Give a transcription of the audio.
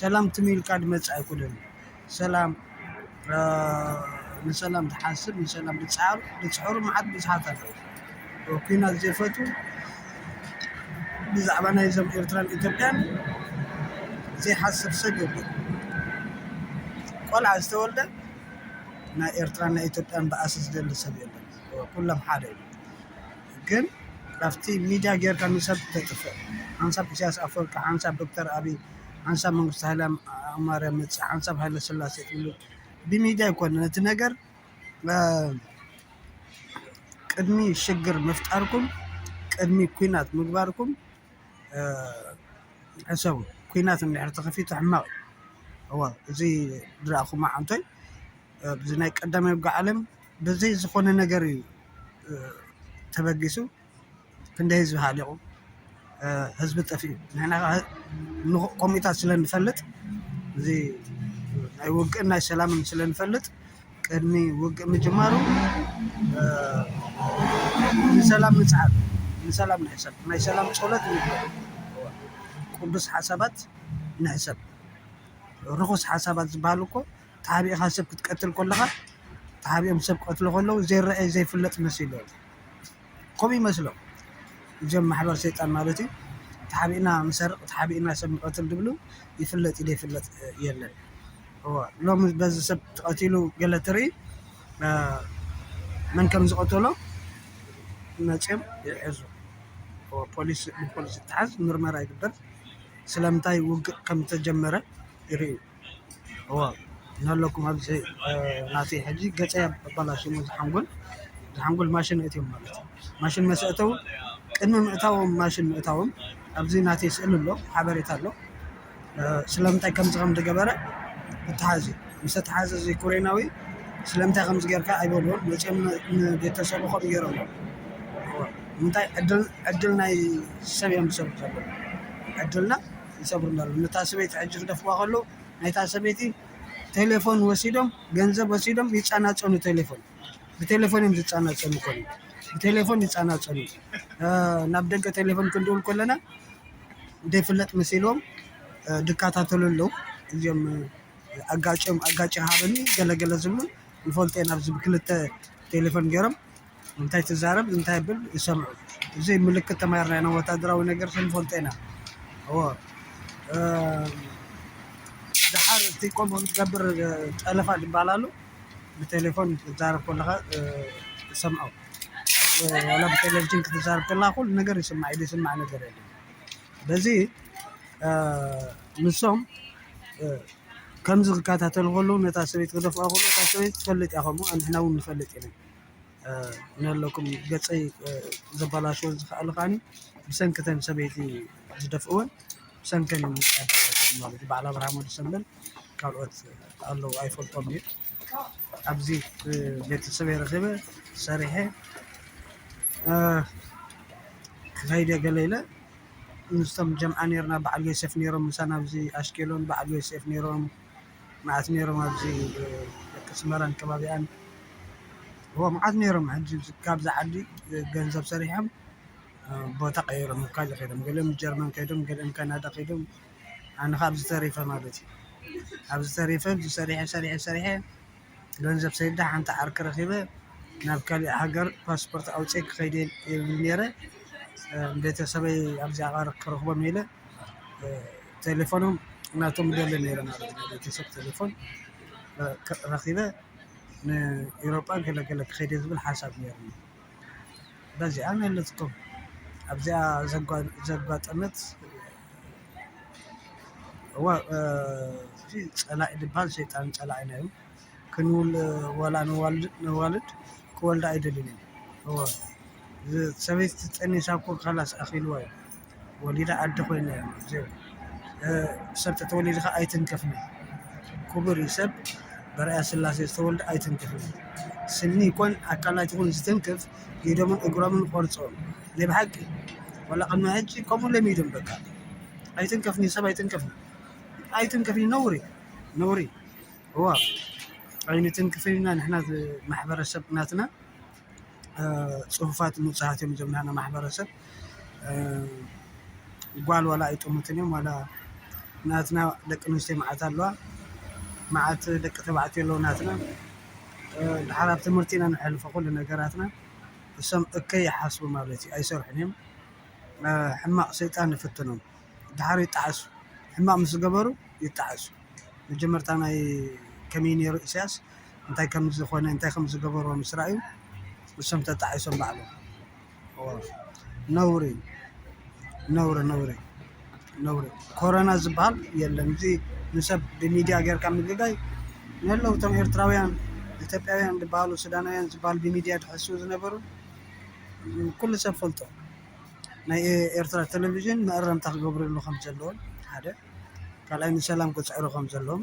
ሰላም ትም ኢልካ ድመጽእ ኣይኮነን ሰላም ንሰላም ዝሓስብ ንሰላም ዝጸዓር ዝጽዕሩ መዓት ብዙሓት ኣለዉ ኩናት ዘይፈቱ ብዛዕባ ናይ ዞም ኤርትራን ኢትዮጵያን ዘይሓስብ ሰብ የለ ቆልዓ ዝተወልደ ናይ ኤርትራን ናይ ኢትዮጵያን በኣሲ ዝደሊ ሰብ የለ ኩሎም ሓደ እዩ ግን ካብቲ ሚድያ ጌርካ ንሰብ ተጥፍእ ሓንሳብ ኢሳያስ ኣፈወርቂ ሓንሳብ ዶክተር ኣብይ ሓንሳብ መንግስቱ ሃይለማርያም መጽእ ሓንሳብ ሃይለስላሴ ትብሉ ብሚድያ ኣይኮነን እቲ ነገር ቅድሚ ሽግር ምፍጣርኩም ቅድሚ ኩናት ምግባርኩም ሕሰቡ ኩናት እንድሕር ተኸፊቱ ሕማቕ እዩ እዋ እዚ ዝረኣኹማ ዓንቶይ ብዚ ናይ ቀዳማይ ውግእ ዓለም ብዘይ ዝኾነ ነገር እዩ ተበጊሱ ክንደይ ህዝቢ ሃሊቑ ህዝቢ ጠፊኡ ንሕና ከዓ ምዉቕ ኮሚታት ስለ ንፈልጥ እዚ ናይ ውግእን ናይ ሰላምን ስለ ንፈልጥ ቅድሚ ውግእ ምጅማሩ ንሰላም ንፅዓር ንሰላም ንሕሰብ ናይ ሰላም ፆሎት ንግበር ቅዱስ ሓሳባት ንሕሰብ ርኹስ ሓሳባት ዝበሃሉ እኮ ተሓቢእኻ ሰብ ክትቀትል ኮለኻ ተሓቢኦም ሰብ ክቀትሉ ከለዉ ዘይረኣይ ዘይፍለጥ መሲልዎም ከምኡ ይመስሎም እዚኦም ማሕበር ሰይጣን ማለት እዩ ተሓቢእና ንሰርቅ ተሓቢእና ሰብ ንቀትል ዝብሉ ይፍለጥ እዩ ዘይፍለጥ የለን እዎ ሎሚ በዚ ሰብ ተቀቲሉ ገለ ትርኢ መን ከም ዝቀተሎ መፅዮም ይሕዙ ፖሊስ ብፖሊስ ይተሓዝ ምርመራ ይግበር ስለምንታይ ውግእ ከም ዝተጀመረ ይርእዩ እወ እናለኩም ኣብዚ ናተይ ሕጂ ገፀይ ኣበላሽዮሞ እዚ ሓንጎል እዚ ሓንጎል ማሽን ኣእትዮም ማለት እዩ ማሽን መስ ኣእተው ቅድሚ ምእታዎም ማሽን ምእታዎም ኣብዚ ናተይ ስእሊ ኣሎ ሓበሬታ ኣሎ ስለምንታይ ከምዚ ከም ዝገበረ እተሓዝ እዩ ምስ ተተሓዘ እዚ ኮሬናዊ ስለምንታይ ከምዚ ጌርካ ኣይበልዎን መፅኦም ንቤተሰቡ ከምኡ ገይሮም ምንታይ ዕድል ዕድል ናይ ሰብ እዮም ዝሰርቁ ዘለዉ ዕድልና ይሰብሩ እንዳሉ ነታ ሰበይቲ ሕጂ ክደፍዋ ከለዉ ናይታ ሰበይቲ ቴሌፎን ወሲዶም ገንዘብ ወሲዶም ይጻናጸኑ ቴሌፎን ብቴሌፎን እዮም ዝጻናጸኑ ኮኑ ብቴሌፎን ይጻናጸኑ ናብ ደገ ቴሌፎን ክንድውል ኮለና ደይፍለጥ መሲሎም ድካታተሉ ኣለዉ እዚኦም ኣጋጭም ኣጋጭ ሃበኒ ገለገለ ዝብሉ ንፈልጦ ኢና ኣብዚ ብክልተ ቴሌፎን ገይሮም እንታይ ትዛረብ እንታይ ብል ይሰምዑ እዚ ምልክት ተማሂርና ኢና ወታደራዊ ነገር ክንፈልጦ ኢና እወ ድሓር እቲ ቆሞ ክትገብር ጠለፋ ድበሃል ኣሎ ብቴሌፎን ክትዛረብ ከለኻ ይሰምዖ ዋላ ብቴሌቭዥን ክትዛረብ ከለኻ ኩሉ ነገር ይስማዕ ኢሉ ይስማዕ ነገር የለ በዚ ንሶም ከምዚ ክከታተሉ ከለዉ ነታ ሰበይቲ ክደፍኣ ከለዉ እታ ሰበይቲ ትፈልጥ እያ ከምኡ ንሕና እውን ንፈልጥ ኢና ነለኩም ገፀይ ዘባላሽወን ዝኸኣለ ከዓኒ ብሰንኪ እተን ሰበይቲ ዝደፍእወን ብሰንከን እዩ ማለት እዩ። በዓል ኣብርሃም ወዲ ሰንበል ካልኦት ኣለዉ ኣይፈልጦም እዩ። ኣብዚ ቤተሰበይ ረኺበ ሰሪሐ ክኸይድ እየ ገለ ኢለ ምስቶም ጀምዓ ነይርና በዓል ዮሴፍ ነይሮም ምሳና ኣብዚ ኣሽኬሎን በዓል ዮሴፍ ነይሮም። መዓት ኔሮም ኣብዚ ደቂ ኣስመራን ከባቢኣን እወ መዓት ኔሮም ሕጂ ካብዛ ዓዲ ገንዘብ ሰሪሖም ቦታ ቀይሮም ኣብ ካልእ ከይዶም ገሊኦም ጀርመን ከይዶም ገሊኦም ካናዳ ከይዶም ኣነ ከኣ ኣብዚ ተሪፈ ማለት እዩ ኣብዚ ተሪፈ ሰሪሐ ሰሪሐ ሰሪሐ። ገንዘብ ሰዲደ ሓንቲ ዓርኪ ረኪበ ናብ ካሊእ ሃገር ፓስፖርት ኣውፂኤ ክከይድ እየ ይብል ነይረ ቤተሰበይ ኣብዚ ዓቃር ክረክቦም እየ ኢለ ቴሌፎኖም ናቶም ይደሊ ነይረ ማለት እዩ ናይ ቤተሰብ ቴሌፎን ረኪበ ንኤሮጳ ገለ ገለ ክከይድ እየ ዝብል ሓሳብ ነይሩኒ በዚኣ መለስኩም ኣብዚኣ ዘጓጠመት እወ እቲ ፀላኢ ልባል ሸይጣን ፀላኢና እዩ። ክንዉን ወላ ነዋልድ ክወልዳ ኣይደልዩን እዮም። እወ ሰበይቲ ጠኒሳ እኮ ኻላስ ኣኺልዋ እዩ። ወሊዳ ኣደ ኮይና እያ እዚኦም ሰብ እንተተወሊዱ ኻዓ ኣይትንከፍን እዩ። ክቡር እዩ ሰብ በርኣያ ስላሴ ዝተወልደ ኣይትንከፍን እዩ። ስኒ ይኹን ኣካላት ይኹን ዝትንክፍ ኢዶምን እግሮምን ቆርጾም ናይ ብሓቂ ዋላ ቅድሚ ሕጂ ከምኡ ኢሎም ኢዶም በቃ ኣይትንከፍኒ ሰብ ኣይትንከፍኒ ኣይትንከፍኒ ነውሪ ነውሪ እዋ ኣይንትንክፍን ኢና ንሕና ማሕበረሰብ ናትና ፅሁፋት ንፁሃት እዮም እዞም ናና ማሕበረሰብ ጓል ዋላ ኣይጥሙትን እዮም ዋላ ናትና ደቂ ኣንስትዮ መዓት ኣለዋ መዓት ደቂ ተባዕትዮ ኣለዉ ናትና ድሓር ኣብ ትምህርቲ ኢና ነሕልፎ ኩሉ ነገራትና እሶም እከይ ይሓስቡ ማለት እዩ ኣይሰርሑን እዮም ሕማቅ ሰይጣን ይፍትኖም ድሓር ይጣዓሱ ሕማቅ ምስ ዝገበሩ ይጣዓሱ መጀመርታ ናይ ከመይ እዩ ነይሩ ኢሳያስ እንታይ ከም ዝኾነ እንታይ ከም ዝገበሮ ምስ ራኣዩ እሶም ተጣዒሶም ባዕሎም ነውሪ ነውሪ ነውሪ ነውሪ ኮረና ዝበሃል የለን እዚ ንሰብ ብሚድያ ጌርካ ምግጋይ ንህለው እቶም ኤርትራውያን ኢትዮጵያውያን ዝበሃሉ ሱዳናውያን ዝበሃሉ ብሚድያ ዝሕስዉ ዝነበሩ ኩሉ ሰብ ይፈልጦ ናይ ኤርትራ ቴሌቭዥን መእረምታ ክገብርሉ ከምዘለዎም ሓደ ካልኣይ ንሰላም ክፅዕሩ ከምዘለዎም